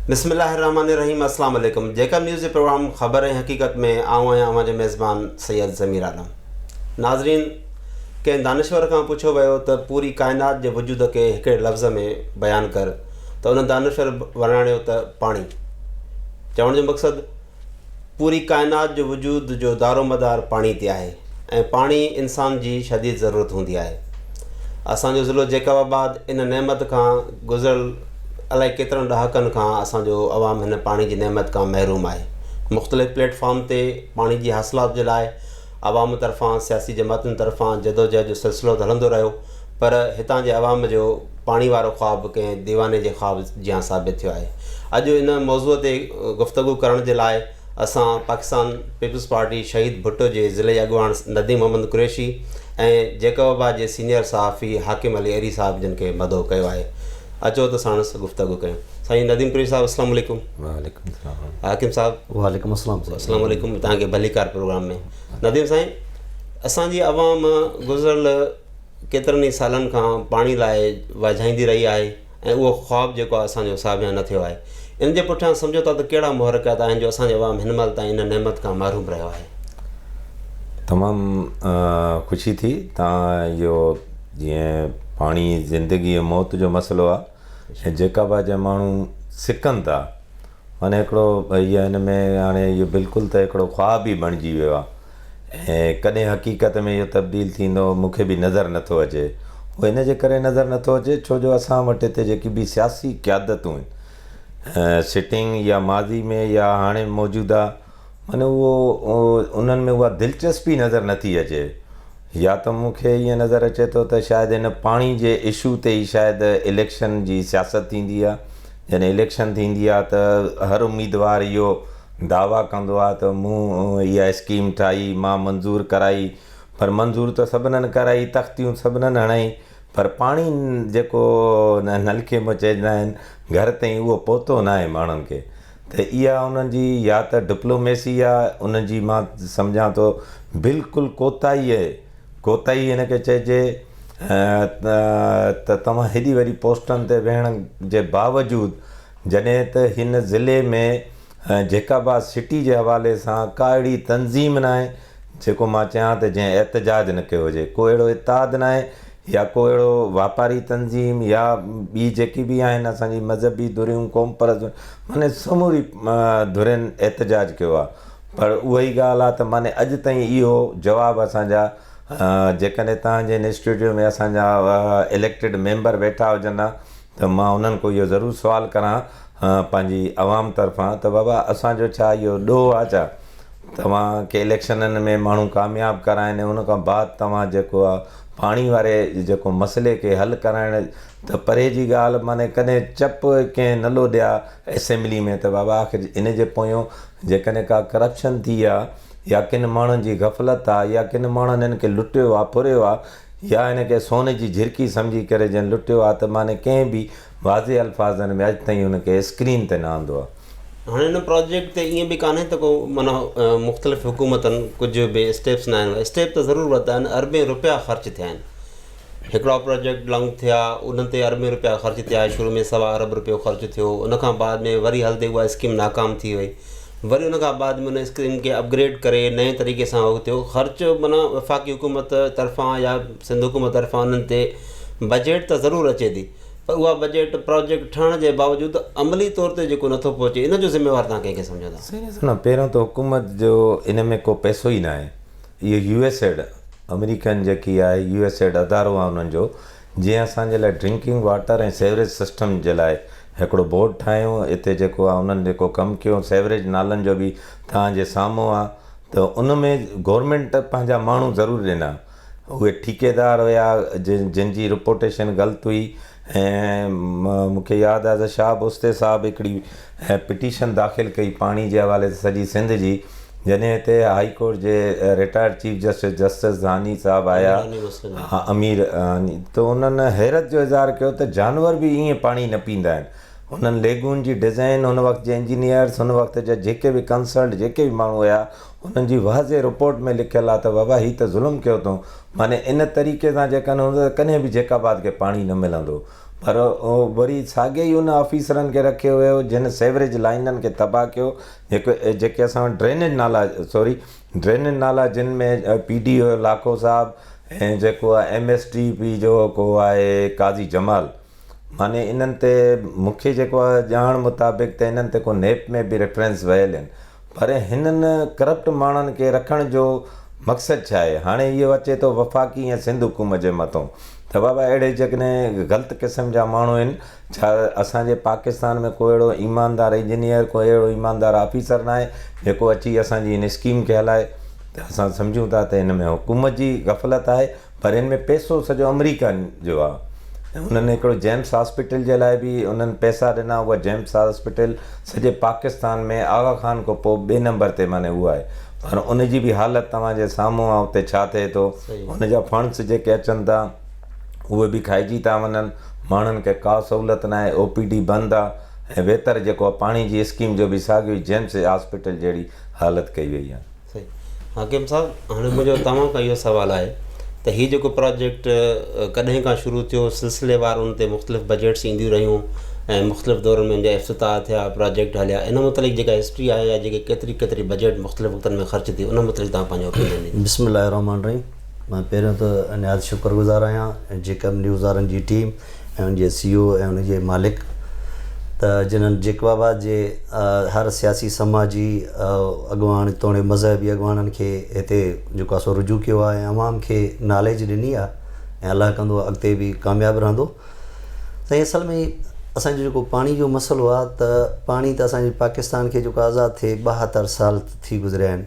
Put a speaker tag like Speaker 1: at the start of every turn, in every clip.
Speaker 1: بسم الله الرحمٰن الرحيم اسلام عليڪم جيڪب نيوز جي پروگرام خبر ۽ حقيقت ۾ آئون آهيان اوهان جو ميزبان سيد ضمير عالم ناظرين ڪنهن دانشور کان پڇيو ويو ته پوري ڪائنات جي وجود کي هڪڙي لفظ ۾ بيان ڪر ته ان دانشور ورڻايو ته پاڻي چوڻ جو مقصد پوري ڪائنات جو وجود جو دارومدار پاڻي تي آهي ۽ پاڻي انسان جي شديد ضرورت هوندي آهي. اسان جو ضلعو جيڪب آباد ان نعمت کان گذريل الائي ڪيترن ڏهاڪن کان اسان جو عوام هن پاڻي جي نعمت کان محروم آهي. مختلف پليٽ فارم تي پاڻي جي حاصلات جي لاء عوام طرفان، سياسي جماعتن طرفان جدوجهد جو سلسلو ته هلندو رهيو پر هتان جي عوام جو پاڻي وارو خواب ڪنهن ديواني جي خواب جيان ثابت ٿيو آهي. اڄ ان موضوع تي گفتگو ڪرڻ جي لاء اسان پاڪستان پيپلز پارٽي شهيد ڀٽو جي ضلعي اڳواڻ نديم محمد قريشي ۽ جيڪباباد جي سينيئر صحافي حاڪم علي ايري صاحب جن کي مدعو ڪيو آهي. اچو ته ساڻس گفتگو ڪيون. سائين نديم پرير صاحب السلام عليڪم وعليڪم السلام
Speaker 2: حاڪم صاحب وعليڪم
Speaker 1: السلام السلام
Speaker 2: عليڪم تان کے
Speaker 1: بھلي کار پروگرام ۾ نديم سائين اسان جي عوام گذرل ڪيترن ئي سالن کان پاڻي لاء واجھائيندي رھي آھي ۽ اھو خواب جيڪو آھي اسان جو ساڀيان نھ ٿيو آھي ان جي پٺيان سمجھو ٿا تھ ڪھڙا محرڪات آھن جو اسان جو عوام ھن مھل تائين ان نعمت کان محروم رھيو آھي تمام
Speaker 2: خوشي ٿي تان اھو جيئن پاڻي زندگي ۽ موت جو مسئلو آھي ۽ جيڪا بها جا ماڻهو سڪن ٿا معنيٰ هڪڙو هي هن ۾ هاڻي اهو بلڪل ته هڪڙو خواب ئي بڻجي ويو آهي ۽ ڪڏهن حقيقت ۾ اهو تبديل ٿيندو مون کي به نظر نه ٿو اچي اهو ان جي ڪري نظر نه ٿو اچي ڇو جو اسان وٽ هتي جيڪي به سياسي قيادتون آهن سٽنگ يا ماضي ۾ يا هاڻي موجوده معنيٰ اهو انهن ۾ اها دلچسپي نظر نه ٿي اچي يا ته مون کي ائين نظر اچي ٿو ته شايد هن پاڻي جي اشو تي ئي شايد اليڪشن جي سياست ٿيندي آهي، جڏهن اليڪشن ٿيندي آهي ته هر اميدوار اهو دعويٰ ڪندو آهي ته مون اها اسڪيم ٺاهي، مان منظور ڪرائي پر منظور ته سڀنن ڪرائي، تختيون سڀنن هڻائي پر پاڻي جيڪو نلڪي مان چئجندا آهن گهر تائين اهو پهتو ناهي ماڻهن کي. ته اها انهن جي يا ته ڊپلوميسي يا انهن جي مان سمجهان ٿو بلڪل ڪوتاهي اهي ڪوتاهي هن کي چئجي ته توهان هيڏي وڏي پوسٽن تي ويهڻ جي باوجود جڏهن ته هن ضلعي ۾ جيڪب آباد سٽي جي حوالي سان ڪا اهڙي تنظيم ناهي جيڪو مان چيان ته جنهن احتجاج نه ڪيو هجي، ڪو اهڙو اتحاد ناهي يا ڪو اهڙو واپاري تنظيم يا ٻي جيڪي به آهن اسان جي مذهبي ڌريون، قوم پرست ڌريون معني سموري ڌرين احتجاج ڪيو آهي پر اها ئي ڳالهه آهي ته معني اڄ تائين اهو جواب اسان جا جيڪڏهن تهان جي انسٽيٽيوٽ ۾ اسان جا اليڪٽيڊ ميمبر ويٺا هجن ها ته مان انهن کان اهو ضرور سوال ڪران ها پنهنجي عوام طرفان ته بابا اسان جو ڇا اهو ڏوهه آهي ڇا؟ توهان کي اليڪشنن ۾ ماڻهو ڪامياب ڪرائين ۽ ان کان بعد توهان جيڪو آ پاڻي واري جيڪو مسئلي کي حل ڪرائڻ ته پري جي ڳالهه معني ڪڏهن چپ ڪنهن نه لوڏيا اسيمبلي ۾ ته بابا آخر ان جي پويون جيڪڏهن ڪا ڪرپشن ٿي آ يا ڪن ماڻهن جي غفلت آ يا ڪن ماڻهن هن کي لٽيو آ ڦريو آ يا هن کي سون جي جهرڪي سمجهي ڪري جنهن لٽيو آ ته معني ڪنهن به واضح الفاظن ۾ اڄ تائين ان کي اسڪرين تي نه آندو آهي. هاڻي ان پراجيڪٽ
Speaker 1: تي ائين به ڪانهي ته ڪو معنيٰ مختلف حڪومتن ڪجهه به اسٽيپس ناهن ورتا، اسٽيپ ته ضرور ورتا آهن، اربين رپيا خرچ ٿيا آهن، هڪڙا پراجيڪٽ لانگ ٿيا انهن تي اربين رپيا خرچ ٿيا، شروع ۾ سوا ارب رپيو خرچ ٿيو، ان کان بعد ۾ وري هلندي اها اسڪيم ناڪام ٿي وئي، وري ان کان بعد ۾ ان اسڪيم کي اپگريڊ ڪري نئين طريقي سان اهو ٿيو، خرچ معنيٰ وفاقي حڪومت طرفان يا سنڌ حڪومت طرفان انهن تي بجيٽ ته ضرور اچي ٿي. پر اها بجيٽ پراجيڪٽ ٺهڻ جي باوجود عملي طور تي جيڪو نه ٿو پهچي ان جو ذميوار توهان ڪنهن کي سمجهو ٿا؟ سائين ڏسو نه پهريون ته حڪومت
Speaker 2: جو ان ۾ ڪو پئسو ئي ناهي اهو يو ايس ايڊ آمريڪن جيڪي آهي يو ايس ايڊ ادارو آهي انهن جو جنهن اسان جي لاء ڊرنڪنگ واٽر ۽ سيوريج سسٽم جي لاء هڪڙو بورڊ ٺاهيون اتي جيڪو آهي انهن جيڪو ڪم ڪيون سيوريج نالن جو به توهان جي سامهون آهي ته ان ۾ گورمينٽ پنهنجا ماڻهو ضرور ڏنا اهي ٺيڪيدار هيا جن جي رپوٽيشن غلط هئي ۽ مون کي ياد آهي ته شهاب اوستي صاحب هڪڙي پٽيشن داخل ڪئي پاڻي جي حوالي سان سڄي سنڌ جي جنهن هتي هائي ڪورٽ جي retired chief justice justice Dhani sahib آيا امير ھاني ته انهن حيرت جو اظهار ڪيو ته جانور به ائين پاڻي نه پيندا آهن انهن ليگون جي ڊزائين ان وقت جي انجنيئرس ان وقت جا جيڪي به ڪنسلٽ جيڪي به ماڻهو هيا انهن جي واضح رپورٽ ۾ لکيل آهي ته وبا هي ته ظلم ڪيو اٿئون معني ان طريقي سان جي ڪن هوندو ته ڪڏهن به جيڪب آباد کي پاڻي نه ملندو پر وري ساڳي ئي ان آفيسرن کي رکيو ويو جن سيوريج لائينن کي تباهه ڪيو جيڪو جيڪي اسان وٽ ڊرينيج نالا سوري ڊرينيج نالا جن ۾ P D O Lakho sahib ۽ جيڪو آهي ايم ايس ٽي پي جو ڪو آهي قاضي جمال معني انهن تي مون کي جيڪو آهي ڄاڻ مطابق ته انهن تي ڪو نيپ ۾ به ريفرنس ويل آهن پر هنن ڪرپٽ ماڻهن کي رکڻ جو مقصد ڇا آهي هاڻي اهو اچي ٿو وفاقي ۽ سنڌ حڪومت جي مٿون ته بابا اهڙي جيڪڏهن غلط قسم جا ماڻهو آهن ڇا اسان جي پاڪستان ۾ ڪو اهڙو ايماندار انجنيئر ڪو اهڙو ايماندار آفيسر نه آهي جيڪو اچي اسان جي هن اسڪيم کي هلائي ته اسان سمجهون ٿا ته هن ۾ حڪومت جي غفلت آهي پر ان ۾ پئسو سڄو آمريڪن جو آ ۽ انهن هڪڙو جيمس هاسپيٽل جي لاء به انهن پئسا ڏنا اها جيمس هاسپيٽل سڄي پاڪستان ۾ آغا خان کان پوء ٻئي نمبر تي معني اها آهي پر ان جي به حالت توهان جي سامهون آ اتي ڇا ٿئي ٿو ان جا فنڊس جيڪي اچن ٿا اهي به کائجي ٿا وڃن ماڻهن کي ڪا سهولت ناهي او پي ڊي بند آ ۽ ويتر جيڪو آ پاڻي جي اسڪيم جو به ساڳيو ئي جيمس هاسپيٽل جهڙي حالت ڪئي وئي آ. حاڪم
Speaker 1: صاحب هاڻي منهنجو توهان کان اهو سوال آهي ته هي جيڪو پراجيڪٽ ڪڏهن کان شروع ٿيو سلسلي وار ان تي مختلف بجيٽس اينديون رهيون ۽ مختلف دورن ۾ ان جا افتتاح ٿيا پراجيڪٽ هليا ان متعلق جيڪا هسٽري آهي يا جيڪي ڪيتري ڪيتري بجيٽ مختلف وقتن ۾ خرچ ٿي ان متعلق تهان پنهنجو اوپينين ڏيندو بسم الله الرحمٰن الرحيم
Speaker 3: مان پهريون ته نهايت شڪر گذار آهيان جيڪب نيوز وارن جي ٽيم ۽ ان جي سي او ۽ ان جي مالڪ ته جنھن جيڪب آباد جي هر سياسي سماجي اڳواڻ توڻي مذهبي اڳواڻن کي هتي جيڪو آهي سو رجوع ڪيو آهي ۽ عوام کي ناليج ڏني آهي ۽ الله ڪندو اڳتي به ڪامياب رهندو سائين اصل ۾ اسان جو جيڪو پاڻي جو مسئلو آهي ته پاڻي ته اسان جي پاڪستان کي جيڪو آزاد ٿئي ٻاهتر سال ٿي گذريا آهن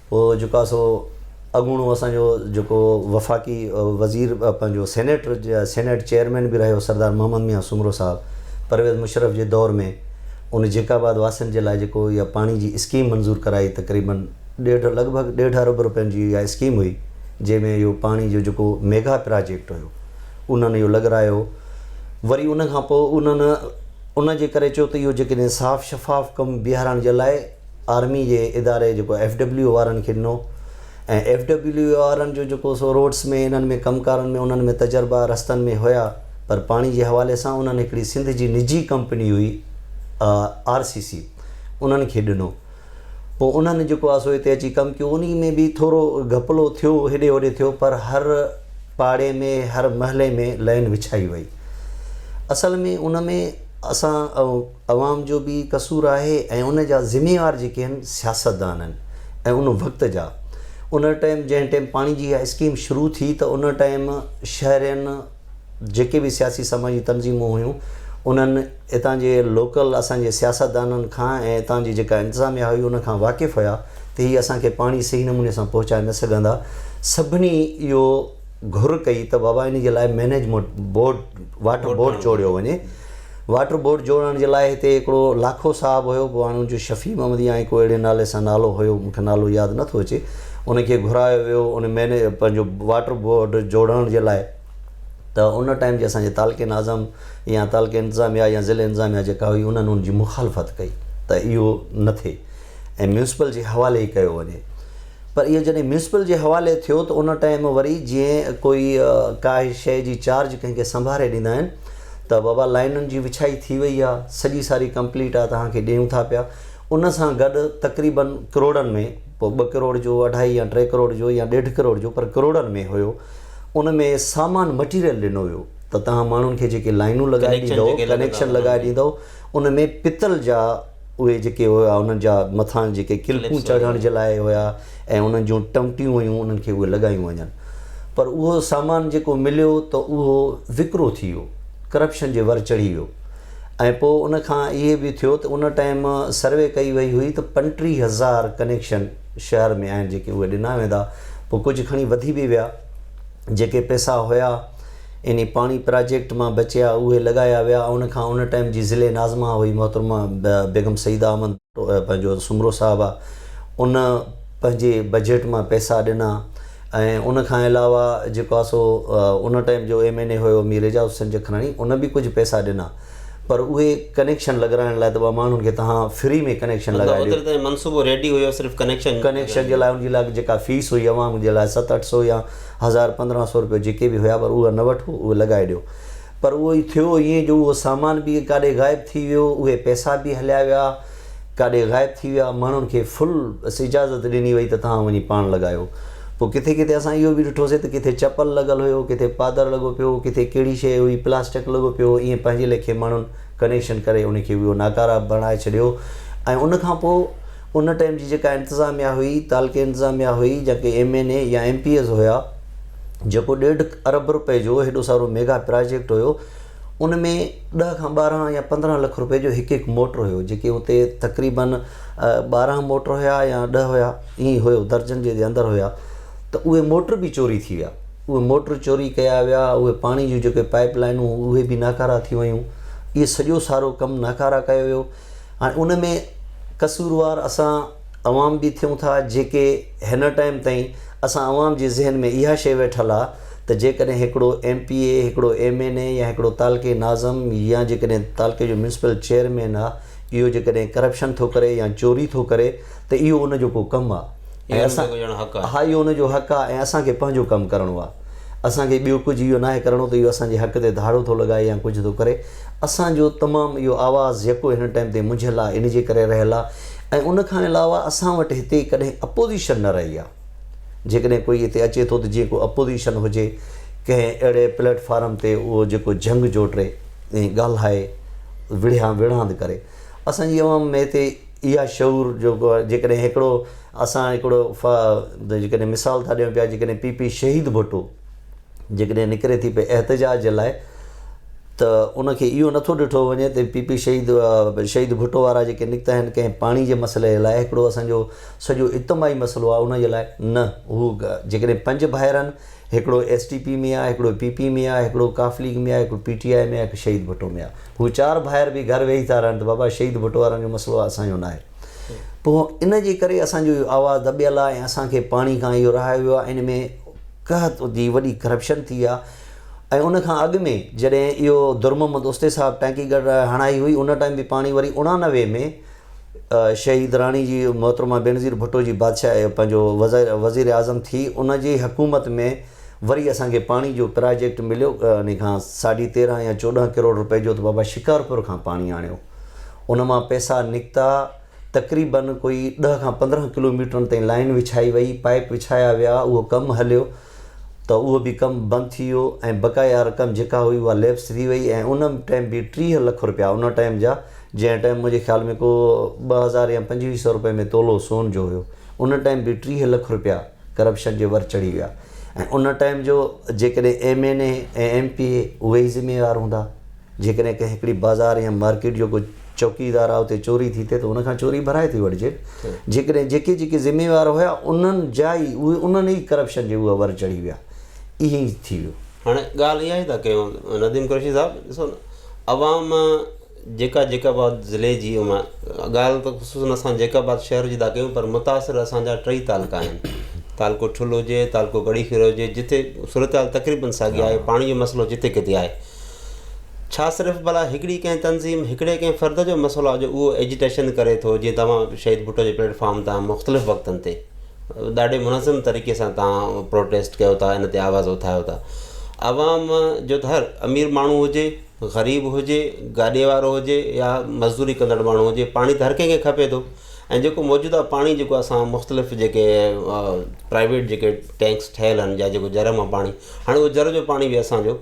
Speaker 3: هو جيڪو آهي سو اڳوڻو اسان جو جيڪو وفاقي وزير پنهنجو سينيٽ سينيٽ چيئرمين به رهيو سردار محمد ميان سومرو صاحب پرويز مشرف جي دور ۾ ان جيڪ آباد واسين جي لاء جيڪو اها پاڻي جي اسڪيم منظور ڪرائي تقريبن ڏيڍ لڳ ڀڳ ڏيڍ ارب روپين جي اها اسڪيم هئي جنهن ۾ اهو پاڻي جو جيڪو ميگا پراجيڪٽ هيو انهن اهو لڳرايو وري ان کان پوء انهن ان جي ڪري چيو ته اهو جيڪڏهن صاف شفاف ڪم بيهارڻ جي لاء آرمي جي اداري جيڪو ايف ڊبليو وارن کي ڏنو ۽ ايف ڊبليو وارن جو جيڪو سو روڊس ۾ انهن ۾ ڪم ڪارن ۾ انهن ۾ تجربا رستن ۾ هيا پر پاڻي جي حوالي سان انهن هڪڙي سنڌ جي نجي ڪمپني هئي آر سي سي انهن کي ڏنو پوء انهن جيڪو آهي سو هتي اچي ڪم ڪيو ان ۾ به ٿورو گهپلو ٿيو هيڏي هوڏي ٿيو پر هر پاڙي ۾ هر محلي ۾ لائن وڇائي وئي اصل ۾ ان ۾ اسان عوام جو به قصور آهي ۽ ان جا ذميوار جيڪي آهن سياستدان آهن ۽ ان وقت جا. ان ٽائيم جنهن ٽائيم پاڻي جي اها اسڪيم شروع ٿي ته ان ٽائيم شهرين جيڪي به سياسي سماجي تنظيمون هيون انهن اتان جي لوڪل اسان جي سياستدانن کان ۽ اتان جي جيڪا انتظاميا هئي ان کان واقف هيا ته هي اسان کي پاڻي صحيح نموني سان پهچائي نه سگهندا سڀني اهو گهر ڪئي ته بابا ان جي لاء مينيجمنٽ بورڊ واٽر بورڊ چوڙيو وڃي. واٽر بورڊ جوڙڻ جي لاء هتي هڪڙو لاکو صاحب هيو، پوء هاڻ ان جو شفيع محمد يا ائين ڪو اهڙي نالي سان نالو هيو، مون کي نالو ياد نه ٿو اچي، ان کي گهرايو ويو، ان مئنيجر پنهنجو واٽر بورڊ جوڙڻ جي لاء ته ان ٽائيم جي اسان جي تعلقي ناظم يا تعلقي انتظاميا يا ضلعي انتظاميا جيڪا هئي انهن ان جي مخالفت ڪئي ته اهو نه ٿئي ۽ ميونسپل جي حوالي ئي ڪيو وڃي. پر اهو جڏهن ميونسپل جي حوالي ٿيو ته ان ٽائيم وري جيئن ڪوئي ڪاهي شيء جي چارج ڪنهن کي سنڀاري ڏيندا آهن ته بابا لائينن جي وڇائي ٿي وئي آهي سڄي ساري ڪمپليٽ آهي توهان کي ڏيون ٿا پيا ان سان گڏ تقريباً ڪروڙن ۾ پوء ٻه ڪروڙ جو اڍائي يا ٽي ڪروڙ جو يا ڏيڍ ڪروڙ جو پر ڪروڙن ۾ هيو ان ۾ سامان مٽيريل ڏنو ويو ته توهان ماڻهن کي جيڪي لائينون لڳائي ڏيندؤ ڪنيڪشن لڳائي ڏيندؤ ان ۾ پتل جا اهي جيڪي هيا انهن جا مٿان جيڪي ڪلپون چڙهڻ جي لاء هيا ۽ انهن جون ٽمٽيون هيون انهن کي اهي لڳايون وڃن پر اهو سامان جيڪو مليو ته اهو وڪرو ٿي ويو ڪرپشن جي ور چڙهي ويو ۽ پوء ان کان اهي به ٿيو ته ان ٽائيم سروي ڪئي وئي هئي ته پنٽيهه هزار ڪنيڪشن شهر ۾ آهن جيڪي اهي ڏنا ويندا پوء ڪجهه کڻي وڌي به ويا جيڪي پئسا هيا انهي پاڻي پراجيڪٽ مان بچيا اهي لڳايا ويا ان کان ان ٽائيم جي ضلعي ناظمه هئي محترمه بيگم سعيده احمد پنهنجو سومرو صاحب آ ان پنهنجي بجيٽ مان پئسا ڏنا ۽ ان کان علاوه جيڪو آ سو ان ٽائيم جو ايم اين اي هيو مير اعجاز حسين جکراڻي ان به ڪجهه پئسا ڏنا پر اهي ڪنيڪشن لڳرائڻ لاء ته ٻه ماڻهن کي تهان فري ۾ ڪنيڪشن لڳائي ڏيو مطلب اوتري تائين منصوبو ريڊي هيو
Speaker 1: صرف ڪنيڪشن ڪنيڪشن جي لاء
Speaker 3: ان جي لاء جيڪا فيس هئي عوام جي لاء ست اٺ سو يا هزار پندرهن سئو روپيا جيڪي به هيا پر اهي نه وٺو اهي لڳائي ڏيو پر اهو ئي ٿيو ائين جو اهو سامان به ڪاڏي غائب ٿي ويو اهي پئسا به هليا ويا ڪاڏي غائب ٿي ويا ماڻهن کي فل بس اجازت ڏني وئي ته توهان وڃي پاڻ لڳايو پوء ڪٿي ڪٿي اسان اهو به ڏٺو سي ته ڪٿي چپل لڳل هيو ڪٿي پادر لڳو پيو هو ڪٿي ڪهڙي شئي هئي پلاسٽڪ لڳو پيو هو ائين پنهنجي ليکي ماڻهن ڪنيڪشن ڪري ان کي اهو ناڪاره بڻائي ڇڏيو ۽ ان کان پوء ان ٽائيم جي جيڪا انتظاميا هئي، تعلقي انتظاميا هئي، جا ڪي ايم اين اي يا ايم پي ايز هيا، جيڪو ڏيڍ ارب رپئي جو هيڏو سارو ميگا پراجيڪٽ هيو، ان ۾ ڏهه کان ٻارهن يا پندرهن لک رپئي جو هڪ هڪ موٽر هيو، جيڪي اتي تقريباً ٻارهن موٽر هيا يا ڏهه هيا، ائين هيو، درجن جي اندر هيا، ته اهي موٽر به چوري ٿي ويا، اهي موٽر چوري ڪيا ويا، اهي پاڻي جون جيڪي پائيپ لائينون هيون، اهي به ناڪارا ٿي ويون، اهي سڄو سارو ڪم ناڪارا ڪيو ويو. هاڻي ان ۾ قصوروار اسان عوام به ٿيون ٿا جيڪي هنر ٽائيم تائين اسان عوام جي ذهن ۾ اها شيء ويٺل آ ته جيڪڏهن هڪڙو ايم پي اي هڪڙو ايم اين اي يا هڪڙو تعلقي ناظم يا جيڪڏهن تعلقي جو ميونسپل چيئرمين آ اهو جيڪڏهن ڪرپشن ٿو ڪري يا چوري ٿو ڪري ته اهو ان جو ڪو ڪم آ ۽ اسان ها اهو ان جو حق آ ۽ اسان کي پنهنجو ڪم ڪرڻو آ اسان کي ٻيو ڪجهه اهو ناهي ڪرڻو ته اهو اسان جي حق تي ڌاڙو ٿو لڳائي يا ڪجهه ٿو ڪري اسان جو تمام اهو آواز يڪو هن ٽائيم تي منجهيل آ ان جي ڪري رهيل آ ۽ ان کان علاوه اسان وٽ هتي ڪڏهن اپوزيشن نه رهي آ جيڪڏهن ڪوئي هتي اچي ٿو ته جيئن ڪو اپوزيشن هجي ڪنهن اهڙي پليٽ فارم تي اهو جيڪو جهنگ جوٽي ۽ ڳالهائي وڙهيان وڙهاند ڪري. اسان جي عوام ۾ هتي اها شعور جو جيڪڏهن هڪڙو اسان هڪڙو جيڪڏهن مثال ٿا ڏيون پيا جيڪڏهن پي پي شهيد ڀٽو جيڪڏهن نڪري ٿي پئي احتجاج جي لاء ته ان کي اهو نٿو ڏٺو وڃي ته پي پي شهيد شهيد ڀٽو وارا جيڪي نڪتا آهن ڪنهن پاڻي جي مسئلي لاء هڪڙو اسان جو سڄو اجتماعي مسئلو آهي ان جي لاء نه هو جيڪڏهن پنج ڀائر آهن هڪڙو ايس ٽي پي ۾ آ، هڪڙو پي پي ۾ آ، هڪڙو ق ليگ ۾ آ، هڪڙو پي ٽي آء ۾ آ، هڪ شهيد ڀٽو ۾ آ. هو چار ڀائر به گهر ويهي ٿا رهن ته بابا شهيد ڀٽو وارن جو مسئلو آ اسان جو ناهي. پوء ان جي ڪري اسان جو اهو آواز دٻيل آ ۽ اسان کي پاڻي کان اهو رهايو ويو آ ۽ ان ۾ قحط جي وڏي ڪرپشن ٿي آ ۽ ان کان اڳ ۾ جڏهن اهو درمحمد اوستي صاحب ٽانڪي گهر هڻائي هئي ان ٽائيم به پاڻي وري اڻانوي ۾ شهيد راڻي جي محترمه بينظير ڀٽو جي بادشاهه پنهنجو وزير اعظم ٿي ان جي حڪومت ۾ وري اسان کي پاڻي جو پراجيڪٽ مليو ان کان ساڍي تيرهن يا چوڏهن ڪروڙ روپئي جو ته بابا شڪارپور کان پاڻي آڻيو ان مان پئسا نڪتا تقريبن ڪوئي ڏهه کان پندرهن ڪلوميٽرن تائين لائن وڇائي وئي پائپ وڇايا ويا اهو ڪم هليو ته اهو به ڪم بند ٿي ويو ۽ بقايا رقم جيڪا هئي اها ليپس ٿي وئي ۽ ان ٽائيم به ٽيهه لک رپيا ان ٽائيم جا جنهن ٽائيم منهنجي خيال ۾ ڪو ٻه هزار يا پنجويهه سئو رپئي ۾ تولو سون جو هيو ان ٽائيم به ٽيهه لک رپيا ڪرپشن جي ور چڙهي ويا ۽ ان ٽائيم جو جيڪڏهن M N A ۽ M P A اهي ئي ذميوار هوندا جيڪڏهن ڪنهن هڪڙي بازار يا مارڪيٽ جو ڪو چوڪيدار آهي اتي چوري ٿي ٿئي ته ان کان چوري ڀرائي ٿي وٺجي. جيڪڏهن جيڪي جيڪي ذميوار هيا انهن جا ئي اهي انهن ئي ڪرپشن جي اها ور چڙهي ويا. ائين ئي ٿي ويو. هاڻي ڳالهه اها ئي
Speaker 1: ٿا ڪيون نديم قريشي صاحب ڏسو نه عوام جيڪا جيڪب آباد ضلعي جي ڳالهه ته خصوصن اسان جيڪب آباد شهر جي ٿا ڪيون پر متاثر اسان جا ٽئي تعلقا آهن تعلقو ٺل هجي تعلقو ڪڙي خيرو هجي جتي صورتحال تقريبن ساڳي آهي پاڻي جو مسئلو جتي ڪٿي آهي ڇا صرف ڀلا هڪڙي ڪنهن تنظيم، هڪڙي ڪنهن فرد جو مسئلو آهي جو اهو ايجيٽيشن ڪري ٿو جيئن توهان شهيد ڀٽو جي پليٽ فارم تان مختلف وقتن تي ڏاڍي منظم طريقي سان توهان پروٽيسٽ ڪيو ٿا ان تي آواز اٿايو ٿا عوام جو ته هر امير ماڻهو هجي غريب هجي گاڏي وارو هجي يا مزدوري ڪندڙ ماڻهو هجي پاڻي ته هر ڪنهن کي کپي ٿو ۽ جيڪو موجوده پاڻي جيڪو اسان مختلف جيڪي پرائيويٽ جيڪي ٽينڪس ٺهيل آهن جا جيڪو جر مان پاڻي هاڻي اهو جر جو پاڻي بي اسانجو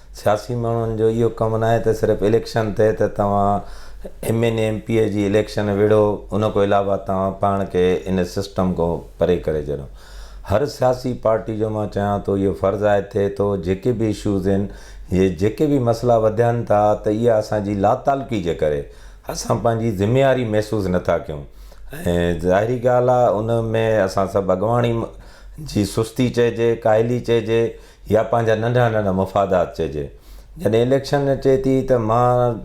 Speaker 2: سياسي ماڻهن جو اهو ڪم ناهي ته صرف اليڪشن ٿئي ته توهان M N A M P A جي اليڪشن وڙهو ان کان علاوه توهان پاڻ کي ان سسٽم کان پري ڪري ڇڏيو هر سياسي پارٽي جو مان چاهيان ٿو اهو فرض آهي ٿئي ٿو جيڪي به اشوز اهن جي جيڪي به مسئلا وڌين ٿا ته اها اسان جي لاتعلقي جي ڪري اسان پنهنجي ذميواري محسوس نٿا ڪيون ۽ ظاهري ڳالهه آهي ان ۾ اسان سڀ اڳواڻي جي سستي چئجي ڪاهلي چئجي يا پنهنجا ننڍا ننڍا مفادات چئجي. جڏهن اليڪشن اچي ٿي ته مان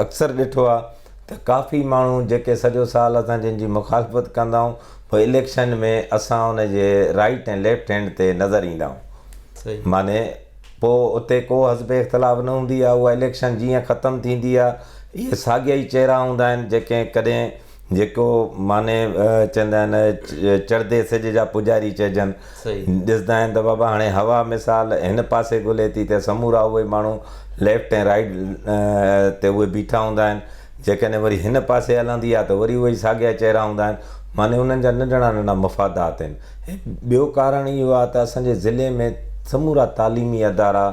Speaker 2: اڪثر ڏٺو آهي ته ڪافي ماڻهو جيڪي سڄو سال اسان جن جي مخالفت ڪندا آهيون پوء اليڪشن ۾ اسان ان جي رائيٽ ۽ ليفٽ هينڊ تي نظر ايندا آهيون. معني
Speaker 1: پوء
Speaker 2: اتي ڪو حزب اختلاف نه هوندي آهي اها اليڪشن جيئن ختم ٿيندي آهي اهي ساڳيا ئي چهرا هوندا آهن جيڪي ڪڏهن جيڪو معني چوندا آهن چڙهدي سج جا پوڄاري چئجن. ڏسندا
Speaker 1: آهن ته بابا
Speaker 2: هاڻي هوا مثال هن پاسي گهلي ٿي ته سمورا اهي ماڻهو ليفٽ ۽ رائيٽ تي اهي بيٺا هوندا آهن. جيڪڏهن وري هن پاسي هلندي آهي ته وري اهي ئي ساڳيا چهرا هوندا آهن. معني انهن جا ننڍڙا ننڍڙا مفادات آهن. ٻيو ڪارڻ اهو آهي ته اسان جي ضلعي ۾ سمورا تعليمي ادارا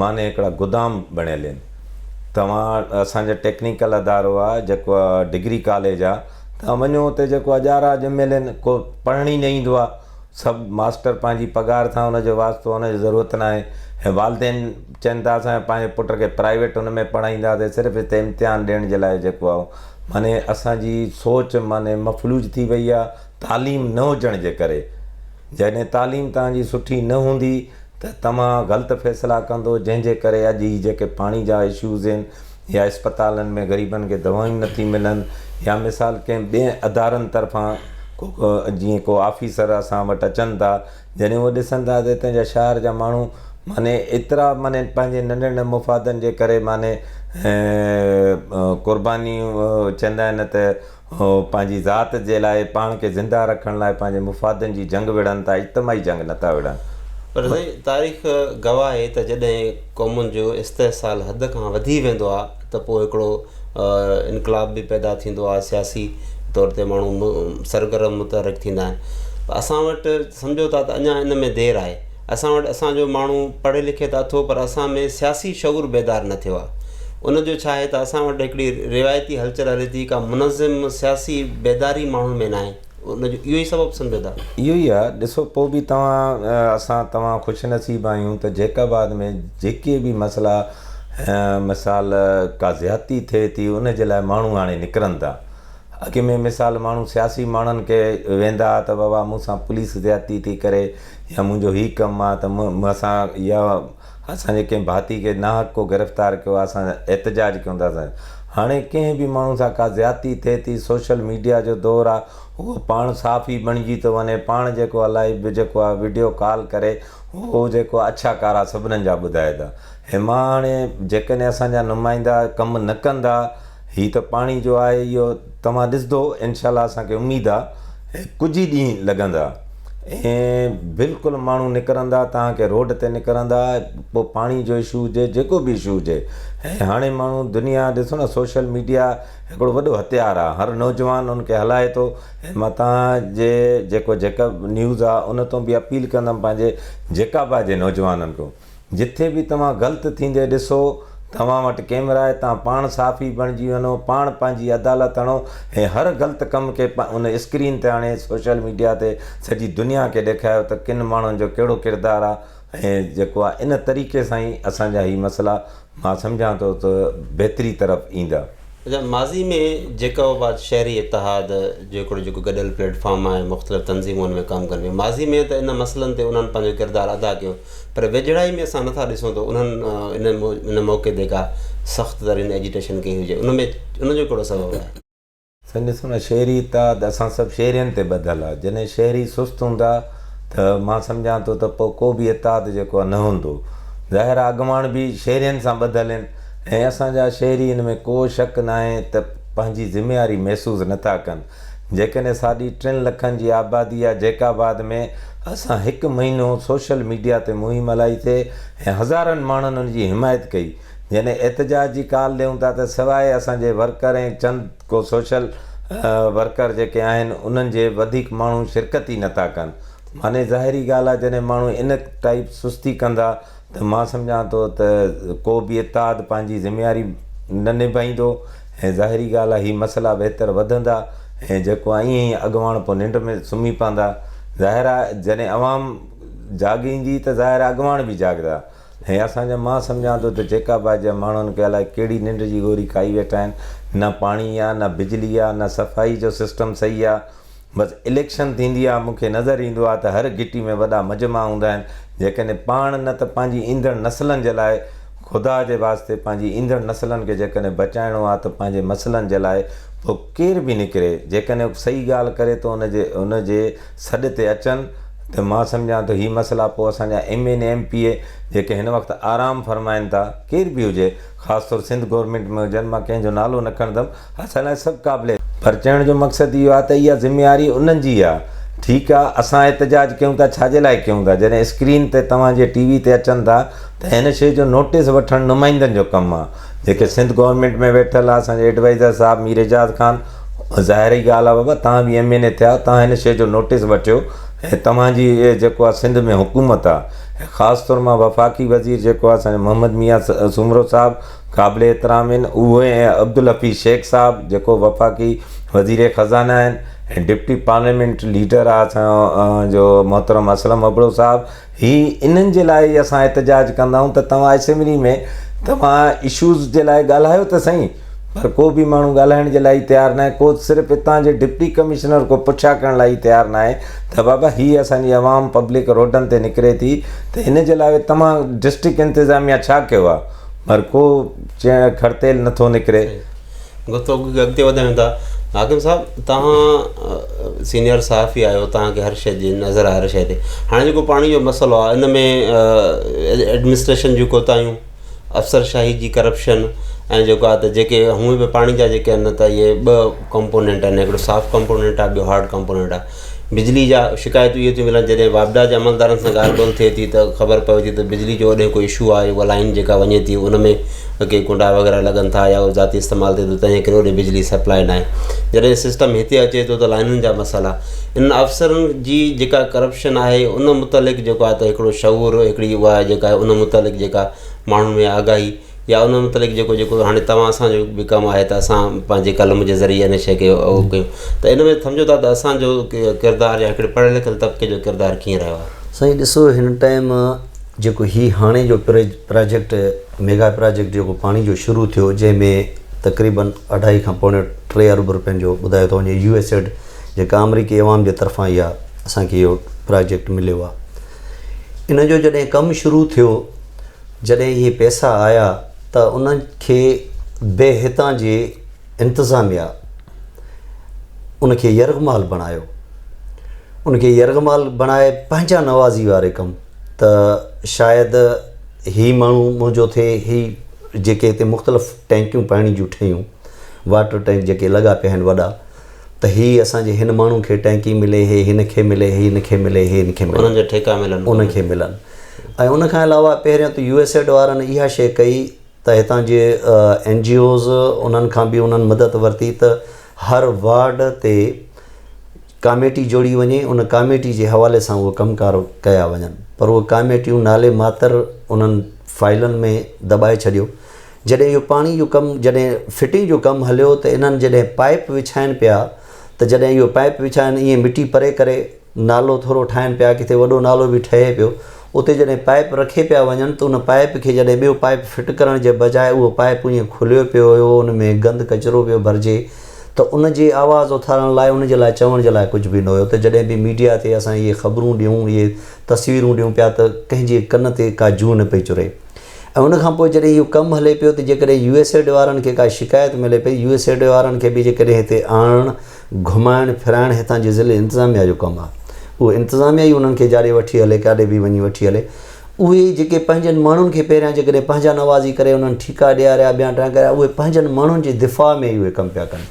Speaker 2: معني هڪڙا گدام بڻيل آهن. توهان اسان جو ٽيڪنيڪل ادارو آ جيڪو آ ڊگري ڪاليج آ توهان وڃو اتي جيڪو اجارا اڄ ملي ڪو پڙهڻ ئي نه ايندو آ سڀ ماستر پنهنجي پگهار سان ان جو واسطو ان جو ضرورت نه آهي ۽ والدين چين ٿا اسان پنهنجي پٽ کي پرائيويٽ ان ۾ پڙهائينداسين صرف هتي امتحان ڏيڻ جي لاء جيڪو آ معني اسان جي سوچ معني مفلوج ٿي وئي آ تعليم نه هجڻ جي ڪري جڏهن تعليم توهان جي سٺي نه هوندي ته توهان غلط فيصلا ڪندو جنهن جي ڪري اڄ هي جيڪي پاڻي جا اشوز هين يا اسپتالن ۾ غريبن کي دوائيون نه ٿي ملن يا مثال ڪنهن ٻين ادارن طرفان ڪو جيئن ڪو آفيسر اسان وٽ اچن ٿا جڏهن هو ڏسن ٿا ته هتان جا شهر جا ماڻهو معني ايترا معني پنهنجي ننڍن ننڍن مفادن جي ڪري معني قربانيون چوندا آهن ته هو پنهنجي ذات جي لاء، پاڻ کي زنده رکڻ لاء پنهنجي مفادن جي جنگ وڙهن ٿا، اجتماعي جنگ نه ٿا وڙهن. پر سائين
Speaker 1: تاريخ گواهه آهي ته جڏهن قومن جو استحصال حد کان وڌي ويندو آهي ته پوء هڪڙو انقلاب به پيدا ٿيندو آهي، سياسي طور تي ماڻهو سرگرم متحرڪ ٿيندا آهن. اسان وٽ سمجهو ٿا ته اڃا ان ۾ دير آهي. اسان وٽ اسان جو ماڻهو پڙهي لکي ته اٿو پر اسان ۾ سياسي شعور بيدار نه ٿيو آهي ان جو ڇا آهي ته اسان وٽ هڪڙي روايتي هلچل هلي ٿي ڪا منظم سياسي بيداري ماڻهن ۾ ناهي ان جو اهو ئي سبب سمجهو ٿا اهو ئي آهي ڏسو
Speaker 2: پوء به توهان اسان توهان خوش نصيب آهيون ته جيڪب آباد ۾ جيڪي به مسئلا مثال ڪا زيادتي ٿئي ٿي ان جي لاء ماڻهو هاڻي نڪرن ٿا اڳ ۾ مثال ماڻهو سياسي ماڻهن کي ويندا ها ته بابا مون سان پوليس زيادتي ٿي ڪري يا منهنجو هي ڪم آ ته مون اسان يا اسان جي ڪنهن ڀاتي کي ناحق ڪو گرفتار ڪيو آ اسان احتجاج ڪيون ٿا سان هاڻي ڪنهن به ماڻهو سان ڪا زيادتي ٿئي ٿي سوشل ميڊيا جو دور آ هو پاڻ صحافي بڻجي ٿو وڃي پاڻ جيڪو الائي به جيڪو آ وڊيو ڪال ڪري هو جيڪو اڇا ڪارا سڀنن جا ٻڌائي ٿا هي مان هاڻي جيڪڏهن اسان جا نمائندا ڪم نه ڪندا هي ته پاڻي جو آهي اهو توهان ڏسدو انشاء الله اسان کي اميد آ هي ڪجهه ئي ڏينهن لڳندا ۽ بلڪل ماڻهو نڪرندا توهان کي روڊ تي نڪرندا پو پاڻي جو اشو هجي جيڪو به اشو هجي ۽ هاڻي ماڻهو دنيا ڏسو نه سوشل ميڊيا هڪڙو وڏو هٿيار آ هر نوجوان ان کي هلائي ٿو ۽ مان توهان جي جيڪو جيڪب نيوز آ ان تون به اپيل ڪندم پنهنجي جيڪابا جي نوجوانن کون جتي به توهان غلط ٿيندي ڏسو، توهان وٽ ڪيمرا آهي، تان پاڻ صحافي بڻجي وڃو، پاڻ پنهنجي عدالت هڻو ۽ هر غلط ڪم کي ان اسڪرين تي آڻي سوشل ميڊيا تي سڄي دنيا کي ڏيکايو ته ڪن ماڻهن جو ڪهڙو ڪردار آهي ۽ جيڪو آهي ان طريقي سان ئي اسان جا هي مسئلا مان سمجهان ٿو ته بهتري طرف ايندا. اچا ماضي
Speaker 1: ۾ جيڪا هو بعد شهري اتحاد جو هڪڙو جيڪو گڏيل پليٽ فارم آهي مختلف تنظيمون ان ۾ ڪم ڪن پيون ماضي ۾ ته ان مسئلن تي انهن پنهنجو ڪردار ادا ڪيو پر ويجهڙائي ۾ اسان نٿا ڏسون ته انهن ان ان موقعي تي ڪا سخت ترين ايجيٽيشن ڪئي هجي ان ۾ ان جو ڪهڙو سبب آهي سائين ڏسو نه
Speaker 2: شهري اتحاد اسان سڀ شهرين تي ٻڌل آهي جڏهن شهري سست هوندا ته مان سمجهان ٿو ته پوء ڪو به اتحاد جيڪو آهي نه هوندو ظاهر آهي اڳواڻ به شهرين سان ٻڌل آهن ۽ اسان جا شهري ان ۾ ڪو شڪ ناهي ته پنهنجي ذميواري محسوس نه ٿا ڪن. جيڪڏهن ساڍي ٽن لکن جي آبادي يا جيڪب آباد ۾ اسان هڪ مهينو سوشل ميڊيا تي مهم هلائي سي ۽ هزارن ماڻهن ان جي حمايت ڪئي جڏهن احتجاج جي ڪال ڏيون ٿا ته سواء اسان جي ورڪر ۽ چند ڪو سوشل ورڪر جيڪي آهن انهن جي وڌيڪ ماڻهو شرڪت ئي نه ٿا ڪن معني ظاهري ڳالهه آهي جڏهن ماڻهو ان ٽائيپ سستي ڪندا ته مان سمجهان ٿو ته ڪو به اتحاد پنهنجي ذميواري نه نڀائيندو ۽ ظاهري ڳالهه آهي هي مسئلا ويتر وڌندا ۽ جيڪو آهي ائين ئي اڳواڻ پوء ننڊ ۾ سمهي پوندا. ظاهر آهي جڏهن عوام جاڳيندي ته ظاهر آهي اڳواڻ به جاڳندا ۽ اسان جا مان سمجهان ٿو ته جيڪب آباد جا ماڻهن کي الائي ڪهڙي ننڊ جي گوري کائي ويٺا آهن نه پاڻي آهي نه بجلي آهي نه صفائي جو سسٽم صحيح آهي. بس اليڪشن ٿيندي آ، مون کي نظر ايندو آ ته هر گهٽي ۾ وڏا مجمعا هوندا آهن، جيڪڏهن پاڻ نه ته پنهنجي ايندڙ نسلن جي لاء خدا جي واسطي پنهنجي ايندڙ نسلن کي جيڪڏهن بچائڻو آ ته پنهنجي مسئلن جي لاء پوء ڪير به نڪري جيڪڏهن ڪو صحيح ڳالهه ڪري ته ان جي ان جي سڏ تي اچن ته مان سمجهان ٿو هي مسئلا پوء اسان جا M N A M P A جيڪي هن وقت آرام فرمائن ٿا ڪير به هجي خاص طور سنڌ گورنمينٽ ۾ هجن مان ڪنهن جو نالو نه کڻندم حسن اشرف قابلي پر چوڻ جو مقصد اهو آهي ته اها ذميواري انهن جي آهي ٺيڪ آهي اسان احتجاج ڪيون ٿا ڇا جي لاء ڪيون ٿا جڏهن اسڪرين تي توهان جي ٽي وي تي اچن ٿا ته هن شي جو نوٽيس وٺڻ نمائندن جو ڪم آهي جيڪي سنڌ گورنمينٽ ۾ ويٺل آهي اسان جي ايڊوائيزر صاحب مير اعجاز خان ظاهري ڳالهه آهي بابا توهان به ايم اين اي ٿيا آهيو توهان هن شي جو نوٽيس وٺيو ۽ توهان جي اهي جيڪو آهي سنڌ ۾ حڪومت آهي خاص طور مان وفاقي وزير جيڪو آهي اسان جو محمد ميان سومرو صاحب قابل احترام هن اهي ۽ عبدالحفيظ شيخ صاحب جيڪو وفاقي وزير خزانه آهن ۽ ڊپٽي پارليامينٽ ليڊر آ اسان جو محترم اسلم ابڙو صاحب هي انهن جي لاء ئي اسان احتجاج ڪندا آهيون ته توهان اسيملي ۾ توهان اشوز جي لاء ڳالهايو ته سهي پر ڪو به ماڻهو ڳالهائڻ جي لاء ئي تيار ناهي ڪو صرف اتان جي ڊپٽي ڪمشنر ڪو پڇا ڪرڻ لاء ئي تيار ناهي ته بابا هي اسان جي عوام پبلڪ روڊن تي نڪري ٿي ته ان جي لاء توهان ڊسٽرڪٽ انتظاميا ڇا ڪيو آ پر ڪو کڙ تيل نٿو نڪري. گفتگو
Speaker 1: کي اڳتي وڌايون ٿا حاڪم صاحب توهان سينيئر صحافي آهيو توهان کي هر شيء جي نظر آهي هر شيء تي هاڻي جيڪو پاڻي جو مسئلو آهي ان ۾ ايڊمنسٽريشن جون ڪوتاهيون افسر شاهي جي ڪرپشن ۽ جيڪو آهي ته جيڪي هونئن به پاڻي جا جيڪي آهن ته اهي ٻه ڪمپونينٽ آهن هڪڙو سافٽ ڪمپونينٽ آهي ٻيو هارڊ ڪمپونينٽ آهي بجلي جا شڪايتون اهي ٿيون ملن جڏهن واپڊا جي عملدارن سان ڳالهه ٻولهه ٿئي ٿي ته خبر پوي ٿي ته بجلي جو هوڏي ڪو اشو آهي اها لائين جيڪا وڃي ٿي ان ۾ ڪي ڪنڊا وغيره لڳن ٿا يا ذاتي استعمال ٿئي ٿو تنهنجي ڪري هوڏي بجلي سپلاء ناهي جڏهن سسٽم هتي اچي ٿو ته لائنن جا مسئلا ان افسرن جي جيڪا ڪرپشن آهي ان متعلق جيڪو آهي ته هڪڙو شعور هڪڙي اها جيڪا آهي ان متعلق جيڪا ماڻهن ۾ آگاهي يا ان متعلق جيڪو جيڪو هاڻي توهان سان جو به ڪم آهي ته اسان پنهنجي قلم جي ذريعي ان شيء کي اهو ڪيون ته ان ۾ سمجهو ٿا ته اسانجو ڪردار يا هڪڙي پڙهيل لکيل طبقي جو ڪردار ڪيئن رهيو آهي سائين ڏسو هن
Speaker 3: ٽائيم جيڪو هي هاڻي جو پراجيڪٽ ميگا پراجيڪٽ جيڪو پاڻي جو شروع ٿيو جنهن ۾ تقريبا اڍائي کان پوڻي ٽي ارب روپين جو ٻڌايو ٿو وڃي يو ايس ايڊ جيڪا آمريڪي عوام جي طرفان اها اسانکي اهو پراجيڪٽ مليو آهي ان جو جڏهن ڪم شروع ٿيو جڏهن اهي پئسا آيا ته ان کي به هتان جي انتظاميا ان کي يرغمال بڻايو. ان کي يرغمال بڻائي پنهنجا نوازي واري ڪم ته شايد هي ماڻهو منهنجو ٿئي هي جيڪي هتي مختلف ٽينڪيون پاڻي جون ٺهيون واٽر ٽينڪ جيڪي لڳا پيا آهن وڏا. ته هي اسان جي هن ماڻهو کي ٽئنڪي ملي هي هن کي ملي هي هن کي ملي هي هن کي ملي انهن جا ٺيڪا ملن
Speaker 1: انهن
Speaker 3: کي
Speaker 1: ملن
Speaker 3: ۽ ان کان علاوه پهريون ته يو ايس ايڊ وارن اها شيء ڪئي ته هتان جي اين جي اوز انهن کان به انهن مدد ورتي ته هر وارڊ تي ڪاميٽي جوڙي وڃي ان ڪاميٽي جي حوالي سان اهي ڪم ڪار ڪيا وڃن پر اهي ڪاميٽيون نالي ماتر انهن فائلن ۾ دٻائي ڇڏيو جڏهن اهو پاڻي جو ڪم جڏهن فٽنگ جو ڪم هليو ته انهن جڏهن پائيپ وڇائن پيا ته جڏهن اهو پائيپ وڇائن ائين مٽي پري ڪري نالو ٿورو ٺاهن پيا ڪٿي وڏو نالو به ٺهي پيو اتي جڏهن پائيپ رکي پيا وڃن ته ان پائيپ کي جڏهن ٻيو پائيپ فٽ ڪرڻ جي بجاء اهو پائيپ ائين کليو پيو هيو ان ۾ گند ڪچرو پيو ڀرجي ته ان جي آواز اٿارڻ لاء ان جي لاء چوڻ جي لاء ڪجهه به نه هيو ته جڏهن به ميڊيا تي اسان اهي خبرون ڏيون اهي تصويرون ڏيون پيا ته ڪنهن جي ڪن تي ڪا جوء نه پئي چري. ۽ ان کان پوء جڏهن اهو ڪم هلي پيو ته جيڪڏهن يو ايس ايڊ وارن کي ڪا شڪايت ملي پئي، يو ايس ايڊ وارن کي به جيڪڏهن هتي آڻڻ، گهمائڻ ڦرائڻ هتان جي ضلعي انتظاميا جو ڪم آهي. اهو انتظاميا ئي انهن کي جاڙي وٺي هلي، ڪاڏي به وڃي وٺي هلي. اهي جيڪي پنهنجن ماڻهن کي پهريان جيڪڏهن پنهنجا نوازي ڪري انهن ٺيڪا ڏياريا، بيانٽان ڪريا، اهي پنهنجن ماڻهن جي دفاع ۾ ئي اهي ڪم پيا ڪن.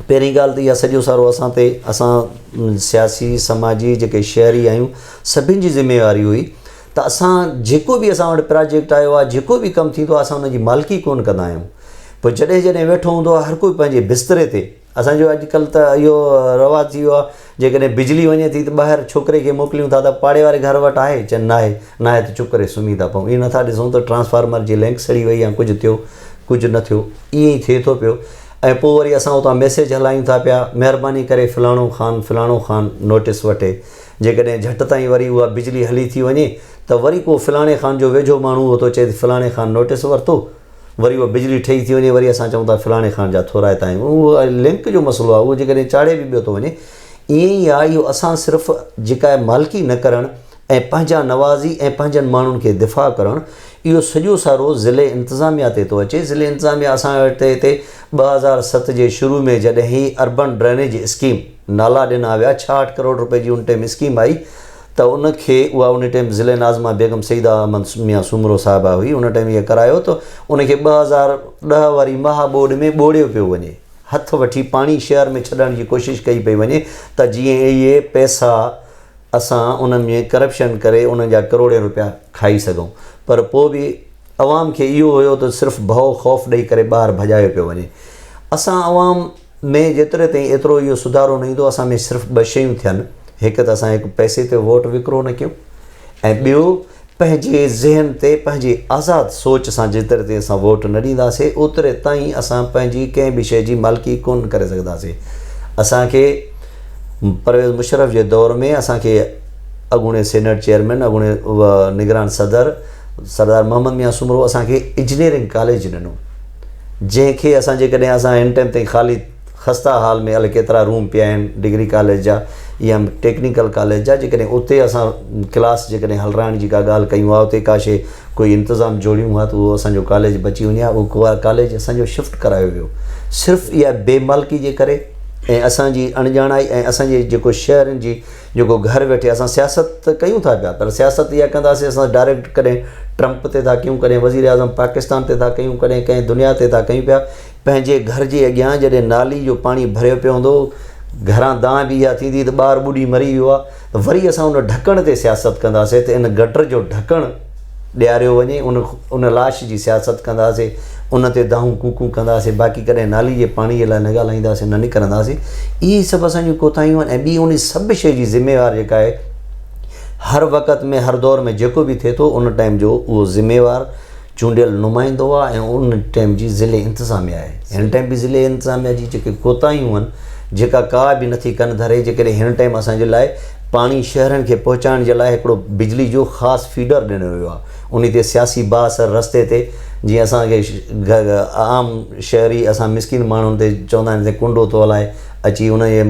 Speaker 3: پهرين ڳالهه ته اها سڄو سارو اسان تي، اسان سياسي، سماجي جيڪي شهري آهيون، سڀن جي ذميواري هئي. ته اسان جيڪو به اسان وٽ پراجيڪٽ آيو آهي جيڪو به ڪم ٿيندو آهي اسان ان جي مالڪي ڪونه ڪندا آهيون پوء جڏهن جڏهن ويٺو هوندو آهي هر ڪوئي پنهنجي بستري تي اسان جو اڄڪلهه ته اهو رواج ٿي ويو آهي جيڪڏهن بجلي وڃي ٿي ته ٻاهر ڇوڪري کي موڪليون ٿا ته پاڙي واري گهر وٽ آهي چئن نه آهي نه آهي ته چپ ڪري سمهي ٿا پئون اهو نٿا ڏسون ته ٽرانسفارمر جي لينڪ سڙي وئي يا ڪجهه ٿيو ڪجهه نه ٿيو ائين ئي ٿئي ٿو پيو ۽ پوء وري اسان اتان ميسيج هلايون ٿا پيا مهرباني ڪري فلاڻو خان فلاڻو خان نوٽس وٺي جيڪڏهن جهٽ تائين وري اها بجلي هلي ٿي وڃي ته وري ڪو فلاڻي خان جو ويجهو ماڻهو هو ٿو چئي ته فلاڻي خان نوٽيس ورتو وري اها بجلي ٺهي ٿي وڃي وري اسان چئون ٿا فلاڻي خان جا ٿورائتا آهيون اهو لنڪ جو مسئلو آهي اهو جيڪڏهن چاڙهي به پيو ٿو وڃي ائين ئي آهي اهو اسان صرف جيڪا آهي مالڪي نه ڪرڻ ۽ پنهنجا نوازي ۽ پنهنجن ماڻهن کي دفاع ڪرڻ اهو سڄو سارو ضلعي انتظاميا تي ٿو اچي ضلعي انتظاميا اسان وٽ هتي ٻه هزار ست جي شروع ۾ جڏهن هي اربن ڊرينيج اسڪيم نالا ڏنا ويا، ڇاهٺ ڪروڙ رپئي جي ان ٽيم اسڪيم آئي ته ان کي اها ان ٽيم ضلعي ناظمه بيگم سيده احمد ميان سومرو صاحبه هئي ان ٽيم اهي ڪرايو ته ان کي ٻه هزار ڏهه واري مها ٻوڏ ۾ ٻوڙيو پيو وڃي هٿ وٺي پاڻي شهر ۾ ڇڏڻ جي ڪوشش ڪئي پئي وڃي ته جيئن اهي پئسا اسان ان ۾ ڪرپشن ڪري انهن جا ڪروڙين رپيا کائي سگهون پر پوء به عوام کي اهو هيو ته صرف ڀئو خوف ڏئي ڪري ٻاهر ڀڄايو پيو وڃي اسان عوام ۾ جيتري تائين ايترو اهو سڌارو نه ايندو، اسان ۾ صرف ٻه شيون ٿين، هڪ ته اسان هڪ پئسي تي ووٽ وڪرو نه ڪيون ۽ ٻيو پنهنجي ذهن تي پنهنجي آزاد سوچ سان جيتري تائين اسان ووٽ نه ڏينداسين اوتري تائين اسان پنهنجي ڪنهن به شيء جي مالڪي ڪونه ڪري سگهنداسين اسان کي پرويز مشرف جي دور ۾ اسان کي اڳوڻي سينيٽ چيئرمين اڳوڻي نگران صدر سردار محمد ميان سومرو اسان کي انجنيئرنگ ڪاليج ڏنو جنهن کي اسان جيڪڏهن اسان اين ٽين تائين خالي خسته حال ۾ الئي ڪيترا روم پيا آهن ڊگري ڪاليج جا يا ٽيڪنيڪل ڪاليج جا جيڪڏهن اتي اسان ڪلاس جيڪڏهن هلرائڻ جي ڪا ڳالهه ڪيون ها اتي ڪا شيء ڪوئي انتظام جوڙيون ها ته اهو اسان جو ڪاليج بچي وڃي ها اهو ڪاليج اسان جو شفٽ ڪرايو ويو صرف اها بي مالڪي جي ڪري ۽ اسان جي اڻڄاڻائي ۽ اسان جي جيڪو شهرين جي جيڪو گهر ويٺي اسان سياست ته ڪيون ٿا پيا پر سياست اها ڪنداسين اسان ڊائريڪٽ ڪڏهن ٽرمپ تي ٿا ڪيون ڪڏهن وزير اعظم پاڪستان تي ٿا ڪيون ڪڏهن ڪنهن دنيا تي ٿا ڪيون پيا پنهنجي گهر جي اڳيان جڏهن نالي جو پاڻي ڀريو پيو هوندو گهران دانهن به اها ٿيندي ته ٻار ٻڏي مري ويو آهي وري اسان ان ڍڪڻ تي سياست ڪنداسين ته ان گٽر جو ڍڪڻ ڏياريو وڃي ان ان لاش جي سياست ڪنداسين ان تي دانهون ڪوڪون ڪنداسين باقي ڪڏهن نالي جي پاڻي لاء نه ڳالهائينداسين نه نڪرنداسين اهي سڀ اسان جون ڪوتاهيون آهن ۽ ٻي ان سڀ شيء جي ذميوار جيڪا آهي هر وقت ۾ هر دور ۾ جيڪو به ٿئي ٿو ان ٽائيم جو اهو ذميوار چونڊيل نمائندو آهي ۽ ان ٽائيم جي ضلعي انتظاميا آهي هن ٽائيم به ضلعي انتظاميا جي جيڪي ڪوتاهيون آهن جيڪا ڪا به نٿي ڪن ڌري جيڪڏهن هن ٽائيم اسان جي لاء پاڻي شهرن کي پهچائڻ جي لاء هڪڙو بجلي جو خاص فيڊر ڏنو ويو آهي. انهي تي سياسي باهه سر رستي تي جيئن اسان کي عام شهري اسان مسڪين ماڻهن تي چوندا آهن تي ڪنڊو ٿو هلائي اچي ان جي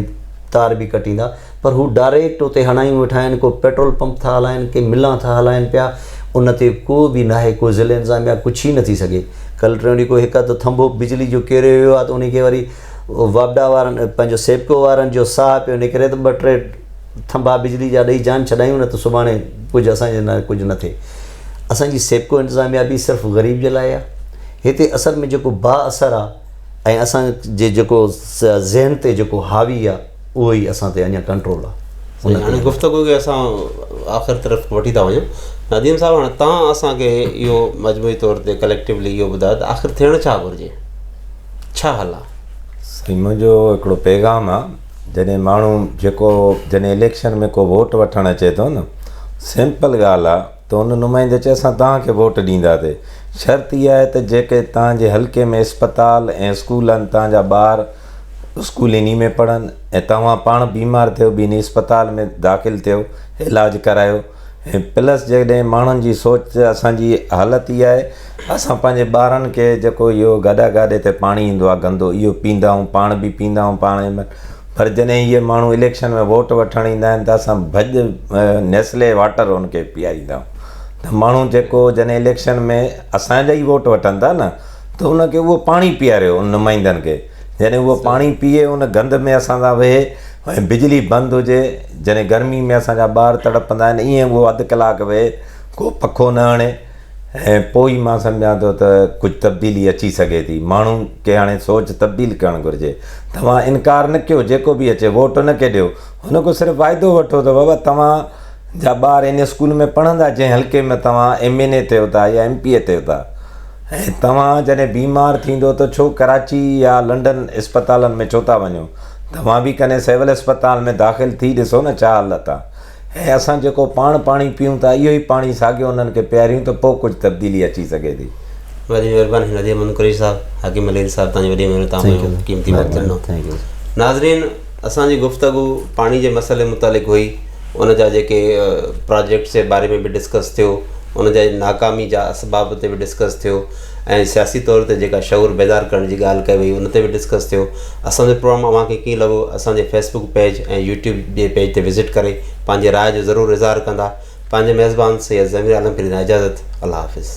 Speaker 3: تار به ڪٽيندا پر هو ڊائريڪٽ اتي هڻايون ويٺا آهن ڪو پيٽرول پمپ ٿا هلائن ڪي ملان ٿا هلائن پيا ان تي ڪو به ناهي ڪو ضلعي انتظاميه ڪڇ ئي نٿي سگهي ڪلٽرن ڏي ڪو هڪ اڌ ٿنڀو بجلي جو ڪيريو ويو آهي ته انهي کي وري واپڊا وارن ۽ پنهنجو سيپڪو وارن جو ساهه پيو نڪري ته ٻه ٽي ٿنڀا بجلي جا ڏئي جان ڇڏايون نه ته سڀاڻي ڪجهه اسان جي لاء ڪجهه نه ٿئي. اسان جي سيپڪو انتظاميا به صرف غريب جي لاء آ. هتي اصل ۾ جيڪو با اثر آ ۽ اسان جي جيڪو ذهن تي جيڪو حاوي آ. اهو ئي اسان تي اڃا ڪنٽرول آ. سائين هاڻي گفتگو کي
Speaker 1: اسان آخر طرف وٺي ٿا وڃون نديم صاحب هاڻي تان اسان کي اهو مجموعي طور تي ڪليڪٽولی اهو ٻڌايو ته آخر ٿيڻ ڇا گهرجي ڇا حل آ؟ سائين منهنجو
Speaker 2: هڪڙو پيغام آ جڏهن ماڻهو جيڪو جڏهن اليڪشن ۾ ڪو ووٽ وٺڻ اچي ٿو نه سمپل ڳالهه آ ته ان نمائندي چيو اسان توهان کي ووٽ ڏينداسي شرط اها آهي ته جيڪي توهان جي حلقي ۾ اسپتال ۽ اسڪول آهن توهان جا ٻار اسڪول انهي ۾ پڙهن ۽ توهان پاڻ بيمار ٿيو به انهي اسپتال ۾ داخل ٿيو علاج ڪرايو ۽ پلس جيڪڏهن ماڻهن جي سوچ اسان جي حالت اها آهي اسان پنهنجي ٻارن کي جيڪو اهو گاڏا گاڏي تي پاڻي ايندو آهي گندو اهو پيندا آهيون پاڻ به پيندا آهيون پاڻ پر جڏهن اهي ماڻهو اليڪشن ۾ ووٽ وٺڻ ايندا آهن ته اسان ڀڄ نيسلي واٽر ان کي پياريندا آهيون ته ماڻهو جيڪو جڏهن اليڪشن ۾ اسان جا ئي ووٽ وٺن ٿا نه ته ان کي اهو پاڻي پياريو ان نمائندن کي جڏهن اهو پاڻي پيئي ان گند ۾ اسان سان ويهي ۽ بجلي بند هجي جڏهن گرمي ۾ اسان جا ٻار تڙپندا آهن ائين اهو اڌ ڪلاڪ ويهي ڪو پکو نه هڻي ۽ پوء ئي مان سمجهان ٿو ته ڪجهه تبديلي اچي سگهي ٿي. ماڻهن کي هاڻي سوچ تبديل ڪرڻ گهرجي. توهان انڪار نه ڪيو، جيڪو به اچي ووٽ ان کي ڏيو. هن کان صرف واعدو وٺو ته بابا توهان جا ٻار ان اسڪول ۾ پڙهندا جنهن حلقي ۾ توهان ايم اين اي ٿيو ٿا يا ايم پي اي ٿيو ٿا ۽ توهان جڏهن بيمار ٿيندو ته ڇو ڪراچي يا لنڊن اسپتالن ۾ ڇو ٿا وڃو. توهان به ڪنهن سول اسپتال ۾ داخل ٿي ڏسو نه ڇا حالت آ. ۽ اسان جيڪو پاڻ پاڻي پيئون ٿا، اهو ئي پاڻي ساڳيو انهن کي پياريون ته پوء ڪجهه تبديلي اچي سگهي ٿي. وڏي
Speaker 1: مهرباني هن اديب منون قريشي صاحب، حڪيم الهيري صاحب توهان جي وڏي مهرباني توهان پنهنجو قيمتي وقت ڏنو. ناظرين اسان جي گفتگو پاڻي جي مسئلي متعلق هئي ان جا جيڪي پراجيڪٽس جي باري ۾ به ڊسڪس ٿيو ان جي ناڪامي جا اسباب تي به ڊسڪس ٿيو. ۽ سياسي طور تي جيڪا شعور بيدار ڪرڻ جي ڳالهه ڪئي وئي ان تي به ڊسڪس ٿيو اسان جو پروگرام اوهان کي ڪيئن لڳو اسان جي فيس بڪ پيج ۽ يوٽيوب جي پيج تي وزٽ ڪري پنهنجي راء جو ضرور اظهار ڪندا پنهنجي ميزبان سيد ضمير عالم کي ڏيندا اجازت الله حافظ.